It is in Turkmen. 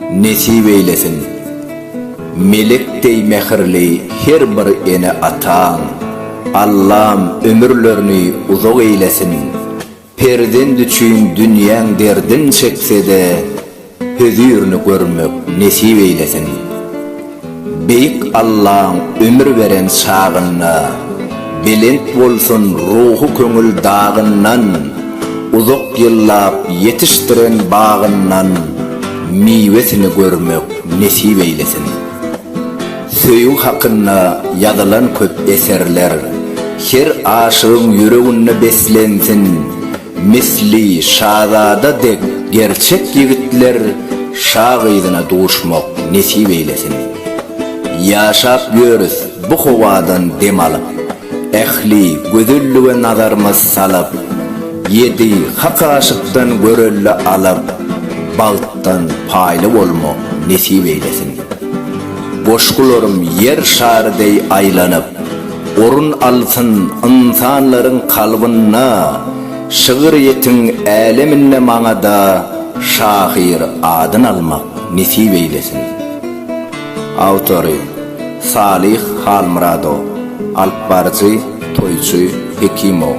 Nesip eýlesin! Melek deý mähirli her bir ene-ataň Allam ömürlerini uzak eýlesin! Perzent üçin dünýäň derdin çekse-de, Hözirini görmek nesip eýlesin. Beýik Allaň ömür beren çagynda belent bolsun ruhy köňül dagyndan uzak ýyllap ýetişdiren bagyndan miwesini görmek nesip eýlesin. Söýgi hakynda ýazylan köp eserler her aşygyň ýüreginde beslensin. Misli şazada dek gerçek ýigitler şa gyzyna duşmak nesip eýlesin. Ýaşap ýörüs bu howadan dem alyp, ähli gözellige nazarymyz salyp, ýedi hak aşykdan görelde alyp, bagtdan paýly bolmak nesip eýlesin. Goşgularym ýer şary deý aýlanyp. Orun alsyn ynsanlaryň kalbynda Şygyrýetiň äleminde maňada Şahyr adyn almak nesip eýlesin. Awtory, Salyh Halmyradow, Alyp baryjy, Toýçy Hekimow.